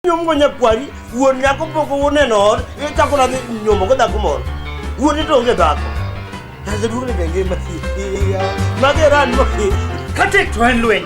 nyomgo nyakwari wuon nyako pok uneno ot ichako nadhi nyomo go dhako moro wuon ito onge dhako naseduogne be ngima mageran kate to en lweny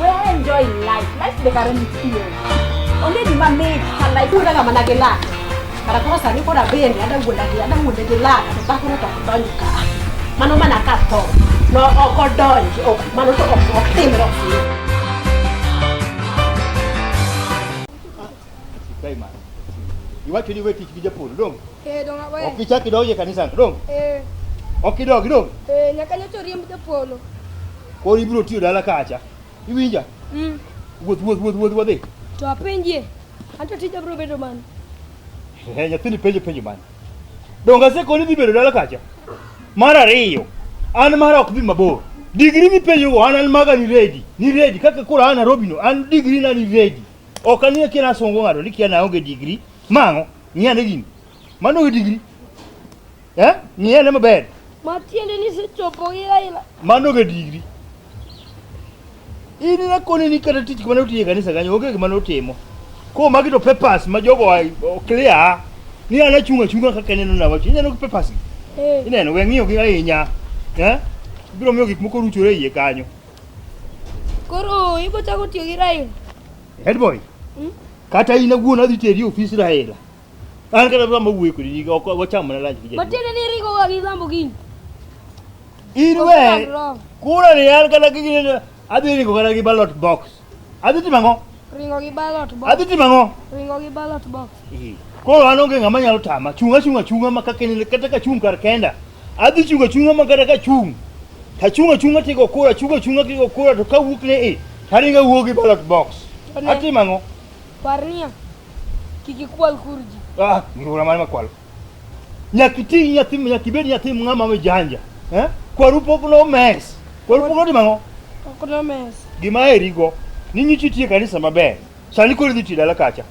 We enjoy life. Life the current feel. Only the man made her life. Kuna kama na gela. Kara kwa sani kwa beni ada gula gela ada gula gela. Tuta kuna to kudonyi ka. Mano mana ka to. No oko donyi. O mano to oko timro. Sikai mara. Iwacho ni we tich gi japur dong. Eh donga we. Ok ichak idonjo e kanisa dong. Eh. Ok idog dong. Eh nyaka nyocha oriemb japolo. Koro ibiro tiyo dala kacha. Iwinja? Mm. Wuoth wuoth wuoth wuoth wadhi. To apenjie. Anto tija bro bedo man. Eh nyathini penjo penjo man. Donga se koni dhi bedo dala kacha. Mar ariyo. An mara ok dhi mabor. Digiri mipenjo go an an maga ni ready. Ni ready kaka koro an Nairobi no an digiri na ni ready. Ok anie kia nasungo ng'ato ni kia naonge digri. Mang'o? Ng'i ane gini. Mano onge digri. Eh? Ng'i ane maber. Matiende ni sechopo gi Raila. Mano onge digri. In nakoni ni kata tich kumane otiye kanisa kanyo onge gima notimo. Ko magi to papers ma jogo clear ni ana chunga chunga kaka neno na wacho. Ineno papers gi. Eh. Ineno we ng'iyo gi ahinya. Eh? Biro miyo gik moko ruchore iye kanyo. Koro ibo chako tiyo gi Raila. Head boy. Hmm? Kata in awuon adhi teri e ofis Raila. An kata dwa mawuoyo kodi ni ok wacham mana lunch gi jadolo. Matiende ni ringo wa gi lambo gini. In we. Kura ni an kata gini adhi ringo kata gi ballot box. Adhi timo ang'o? Ringo gi ballot box. Adhi timo ang'o? Ringo gi ballot box. Koro an onge ng'ama nyalo tama. Chung' achung' achung'a ma kaka in kata ka chung' kar kenda. Adhi chung' achung'a ma kata ka chung'. Ta chung' achung'a tigo kura, chung' achung'a tigo kura to ka wuok ne e. Taringa wuok gi ballot box. Atimo ang'o? Parnia. Kik ikwal kurji. Ah, ngura mane makwal. Nyakiti nyathi nyaki bed nyathi ng'ama me janja. Eh? Kwaru pok no mes. Kwaru pok no mango. Pok no mes. Gima eri go. Ni nyichi tie kanisa maber. Sani kori dhi tidala kacha.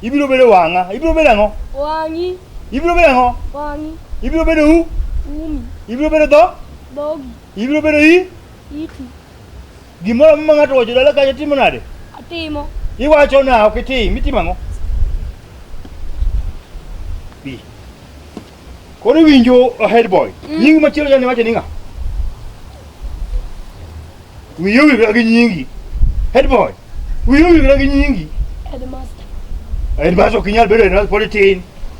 Ibiro bere wanga. Ibiro bere ngo. Wangi. Ibiro bere ngo. Wangi. Ibiro bere u. Umi. Ibiro bere do. Dogi. Ibiro bere i. Iti. Gimoro ma ng'ato owacho dala kacha timo nade? Atimo. Iwacho na ok itim, itimo ang'o? Bi. Koro iwinjo a head boy. Mm. Nyingi machielo jane wacho ni ng'a? Wiyo wiyo gi nyingi. Head boy. Wiyo wiyo gi nyingi. Headmaster. Headmaster ok inyal bedo headmaster pod itin.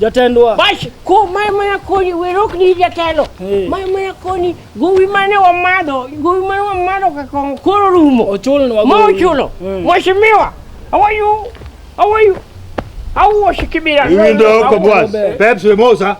Jatendwa. Bas, ko maya maya koni, werok ni jatelo. Hey. Maya maya koni, gowi mane wamadho, gowi mane wamadho ka kong koro rumo. Ochul ni wagowi. Ma ochulo. Hey. Mwashimiwa, how are you? How are you? How was Kibira? Hiyo ndio Kobwas. Pepsi Mosa.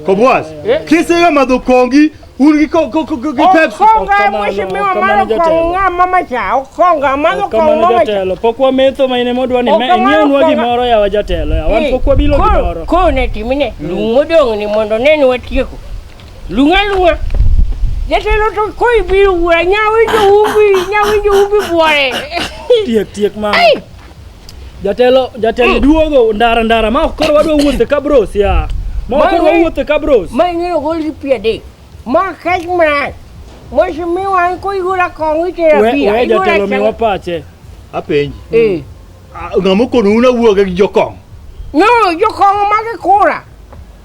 Kobwas. Kisa ya madhukongi Uri ko ko ko ko Pepsi. Okonga Okamano, mweshi miwa okamano mano jatelo. konga mama cha okonga mano konga Kamano mama cha. jatelo, pok wametho ma ine modwa ni me- Okamano nyiewonwa konga. gimoro yawa jatelo, yawa wan pok wabilo gimoro. Ko ne timine lung modong ni mondo neni watieko. Lunga lunga. Jatelo to koi biru wura nyawi jo umbi nyawi jo umbi buore. Tiek tiek mama. Ai Jatelo jatelo mm. duogo ndara ndara ma koro wadwa wuothe ka bros ya. Ma koro wuothe ka bros. Ma ing'eyo gol gi pia de. Ma kech mran. Mwashi mi wan ko igura kong itera pia. We jatelo mi wapache. Apenji. Eh. Ng'amo kono una wuoge gi jokong. No, jokong ma ke kura.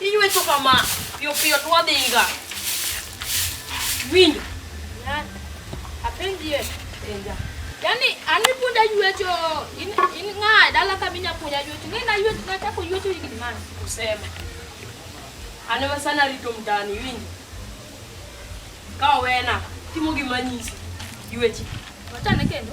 Iywecho kama, piyo piyo to wadhiga. Winjo. Apenjie. Penja. Yaani ani punda ywecho in in ng'a dala kama inya punya ywecho. Ng'ina ywecho na chako ywecho hiki mani. Kusema. Anema sana rito mtani winjo. Kawa wena timo gima nyisi ywechi. Wachane kendo.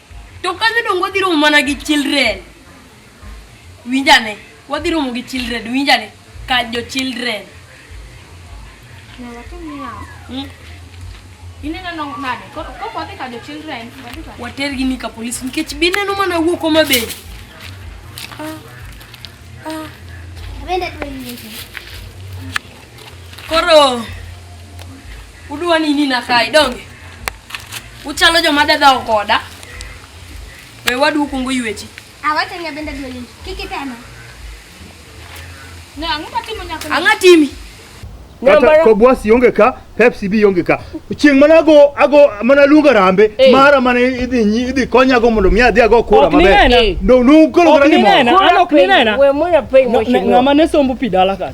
To ka jodongo wadhi romo mana gi children. Winjane, wadhi romo gi children, winjane, ka jo children. Hmm? Watergi ni ka polis nikech bineno mana wuok Homa Bay. Ah, ah. Koro Udwa ni nina kai donge. Uchalo jo madada okoda. We wadu kungu yuechi. Awata ni abenda dweli. Kiki tena. Na anguka timu nyako. Anga timi. Kata kobwasi yonge ka, Pepsi bi yonge ka. Chieng mana go ago mana lunga rambe, hey. mara mana idhi nyi idhi konya go mondo miya dhiago kura mabe. No, no, kolo grani mo. Ano kinena. We moya pay mo. Ngama ne sombo pidala ka.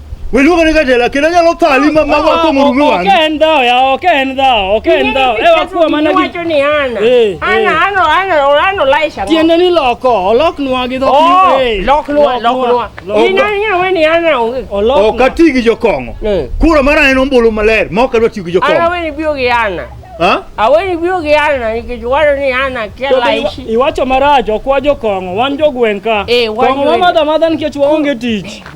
Wewe luongo ni Katela kendo nyalo thali ma mago ko murume wangi. Okay en dhao ya okay en dhao okay en dhao. E wakuwa mana gi wacho ni ana. Eh, ana eh. ana ana olano laisha. Tiende ni loko olok nwa gi dhok. Oh, eh, lok nwa lok nwa. Ina nya we ni ana onge. Olok. Ok ati gi jokongo. Kura mara en ombulu maler ma ok adwa tiyo gi jokongo. Ana we ni bio gi ana. Ha? Awe ni bio gi ana nikech waro ni ana kela ishi. Iwacho marach ok wa jokongo wan jogwenka. Eh, wan. Kongo madha madha nikech waonge tich.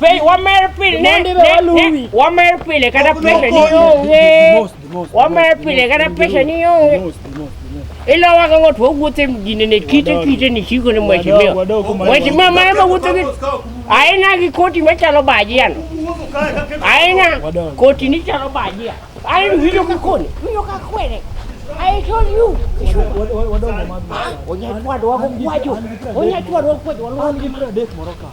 Piny wamer pile ne ne ne wamer pile kata pesa ni onge. Wamer pile kata pesa ni onge. Ila waka ngot wa wuothe mjini ne kite kite ni chiko ni mheshimiwa. Mheshimiwa mara ma wuothe gi aina gi koti machalo baji yan. Aina koti ni chalo baji yan. Aina winjo ka koni, winjo ka kwere. I told you. Onyatwadwa kwacho. Onyatwadwa kwacho. Walwa ni mara dek moro ka.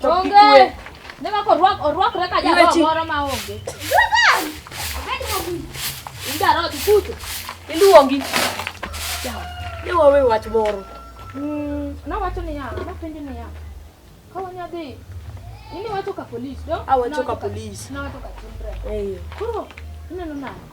Onge. Ne ma korwak orwakre ka jalo moro ma onge. Indaro ti kuto. Iluongi. Yawa. Ne wawe wach moro. Mm, na wacho ni ya, na penjo ni ya. Ka wanya dhi. Ini wacho ka police, do? Awacho ka police. Na wacho ka children. Eh. Kuro, ineno nani?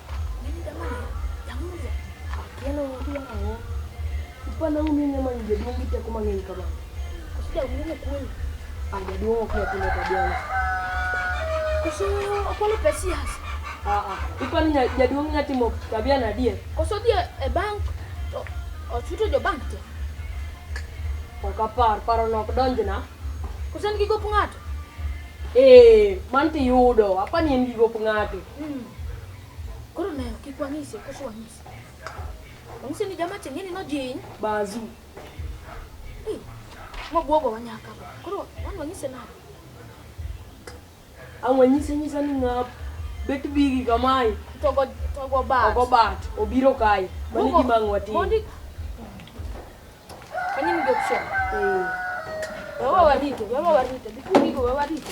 Jaduong' nya timo tabia na die. Koso die e bank ochuto jo bank te. Ok apar, paro nok donjna. Koso en gi gop ng'ato? Eh, man tiyudo, apani en gi gop ng'ato. Mm. Koro nayo kik wang'ise koso wang'ise. Wang'ise ni jama cheng'e ni nojiny. Bazu. Hey, mobwogo wanyaka. Koro wan wang'ise nade? Ang' wanyise nyisa ni ng'ap bet bigi kamae. Togo togo bat. Ogo bat. Obiro kae. Mani Bugo- gima ang' watim. mondi Kani ni option. Eh. Wewe warite, wewe warite. Bikundi go wewe warite.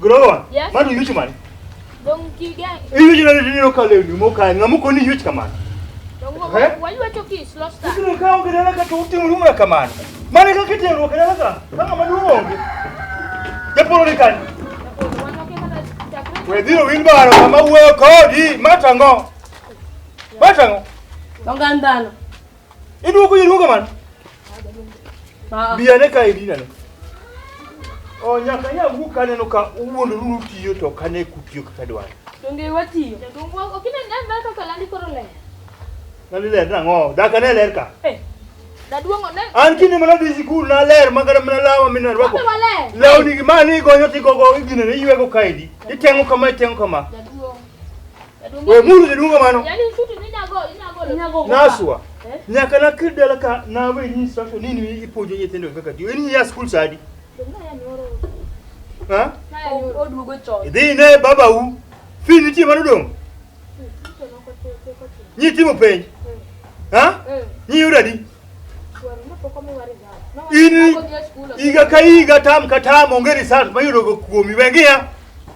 Grower. Yes. Mano yuch man. Dong kigen. Yuch na ni no kale ni mo ka ngamu ko ni yuch kamano. Dong wo eh? wa yuwa to kis lost. Kino ka onge dala ka to utim ruwa kamano. Mane ka kitem ruwa dala ka. Kama madu onge. Japolo ni kan. We diro win baro kama uwe kodi matango. Matango. Dong andano. Iduo ko iduo man. Ah. Biya ne ka idina ne. O nyaka nya wu kane no ka uwuon ruru tiyo to kane kutiyo kaka dwar. Donge watiyo. Donge wa okine ndan na kaka landi koro le. Landi le na ngo, da kane le ka. Eh. Da duongo ne. An kini mana di sikul na le ma kada mana lawa mina rwako. Lawo ni ma ni gonyo ti gogo igine ne ywe ko kaidi. Itengo kama itengo kama. Da duongo. We mulu ni dunga mano. Yaani usutu ni nyago, nyago. Nyago. Naswa. Eh? Nyaka na kidala ka na we ni instruction nini ipojo yetendo kaka di. Weni ya school sadi. Dunga ya nyoro. Ha? Odugo chon. Idhi ne baba u. Fi ni ti mano dong. Nyi ti mo penj. Ha? Eh. Nyi yura di. Ini iga ka iga tam ka tam ongeri sat mayudo kuomi wengi ya.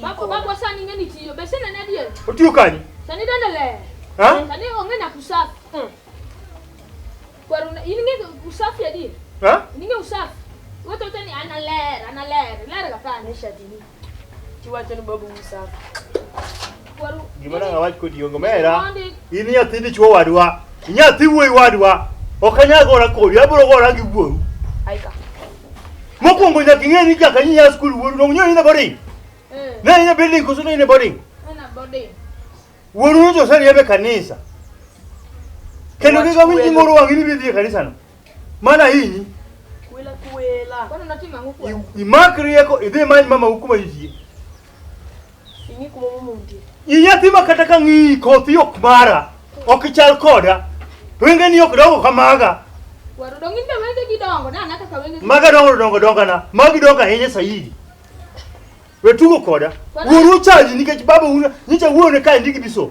Bako bako sani ng'e ni tiyo be sene ne dier. Otiyo kanye? Sani dende le. Ha? Sani onge na kusafi. Mm. Kwaru na in ng'e usafi adi? Ha? In ng'e usafi. Wote wote ni ana ler, ana ler. Ler ga pa ne shati ni. Tiwacho ni babu usafi. Gima nanga wach kodi ongo mera. In nyathi dichuo wadwa. Nyathi wuoyi wadwa. Ok anyal gora kodi, abiro gora gi wuoru. Aika. Mokwongo nyaka ing'e ni jaka nyinya skul wuoru dong nyo ine boarding. Eh. Ne ine building koso ne ine boarding. Ana boarding. Wuoru nyo josari ebe kanisa. Kendo kika winji moro wangi ni bidhi e kanisa no. Mana hinyi. Kwela kwela. Kwani unatima nguku? Imak rieko idhi many mama hukuma yijie. Ing'ik momo mundi. Inyathi ma kata ka ng'iyi kothi ok mara, ok ichal koda. Wenge ni ok dongo kamaga. Waru dongi ndio wenge gidongo na anaka ka wenge. Maga dongo dongo dongo na. Magi dongo ahinya saidi. Wetugo koda. Wuoru chaji nikech baba una nyicha wuone ka ndigi biso.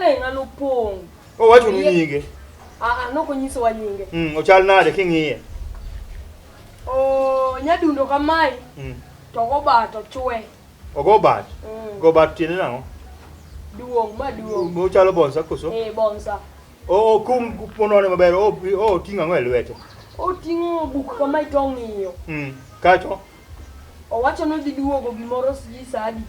Eh, ng'ano pong'. Owacho ni Ye- nyinge. Ah, ah, nok onyisowa nyinge. Mm, ochal nade king'iye? Oh, nyadundo kamae Mm. to goba to chwe. Ogo bat. Mm. Go bat tiende nang'o? Duong' ma duong'. Ochalo bonsa koso? Eh, bonsa. O o, kum ponone maber. O o ting'o ang'o e lwete? Oting'o buk kamae to ong'iyo. Mm. Kacho. Owacho ni odhi duogo gimoro sijui saa adi.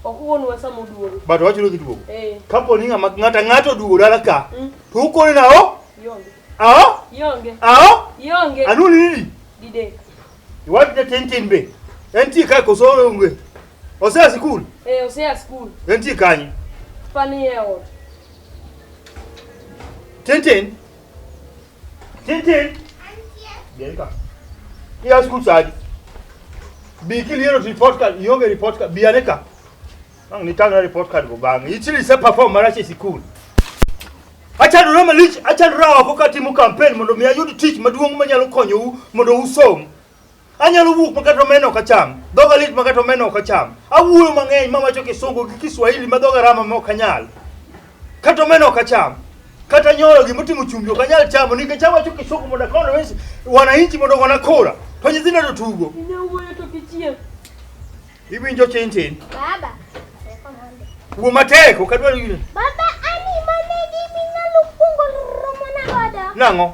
Ok wuonwa sama oduogo. But wacho ni duogo. Eh. Kapo ni ng'ama ng'ata ng'ato oduogo dala ka. Mm. To ukone na o? Yonge. Aho? Yonge. Aho? Yonge. Anu ni nini? Dide. Iwadi na tintin be. Enti ka ko soro unge. Osea school. Eh, osea school. Enti kanyi. Pani e ot. Tintin. Tintin. Bien ka. Iya school side. Bi kili yero report card, yonge report card, bi aneka. Ang ni tanga report card go bang. Ichili se perform marache school. Acha rama lich, acha rawa ko kati mu campaign mondo mi ayud tich maduong' manyalo konyou mondo usom. Anyalo wuok ma kata omena ok acham, dhoga lit ma kata omena ok acham. Awuoyo mang'eny ma wacho Kisungu gi Kiswahili ma dhoga rama ma ok anyal. Kata omena ok acham. Kata nyoyo gima otimo chumbi ok anyal chamo nikech awacho Kisungu mondo akono wesi wananchi mondo ogona kura. To nyithindo to tugo. Inyawuoyo to kichieng'. Iwinjo tin tin. Baba. Wuo matek ok adwar yire. Baba ani mane gimi nyalo kungo romo na godo. Nang'o?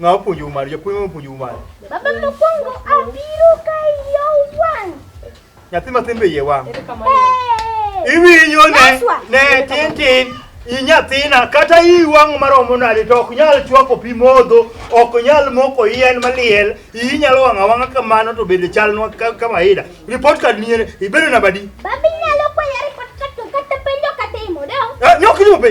Ng'a opuonjou mano? Japuonj mopuonjou mano? Baba mokwongo abiro ka iye owang'. Nyathi matin be iye wang'. Hey! Iwinjo ne Naswa. ne tin tin i nyathina kata i wang'o maromo nade to ok nyal chwako pi modho ok nyal moko yien maliel iyi nyalo wang'a wang'a kamano to bende chalnwa ka- kama ida report card ni ibedo nabadi Baba inyalo kwaya report card to kata penjo kata imo dong. Eh, nyok ni obe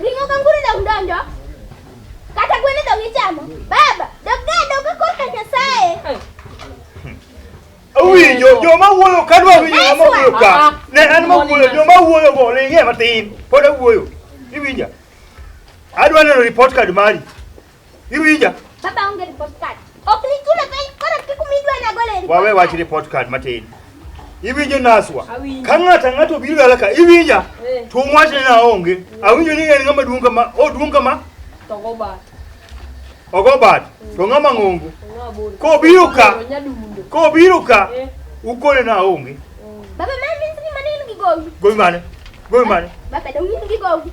Ring'o kanguru dok donjo kata gweno dok ichamo. Baba, dok ga dok korka Nyasaye. Awinjo joma wuoyo ka dwa winjo joma wuoyo ka. Ne an ma wuoyo joma wuoyo go ne ng'e matin. Pod awuoyo. Iwinja. Adwa neno report card mari. Iwinja? Baba onge report card. Ok nichule piny koro kik umidwa na gole report. Wawe wach report card matin. Iwinjo naswa. Ka ng'ata ng'ato obiro dala ka iwinja. Eh. To wach ne na onge. Awinjo ni en ng'ama duong kama, o duong kama. To go bat. Ogo bat. To ng'ama ng'ongo. Ko biro ka. Ko biro ka. Eh. Ukone na onge. Baba mami ni maneno gigowi. Gowi mane? Gowi mane? Baba dawinjo gigowi.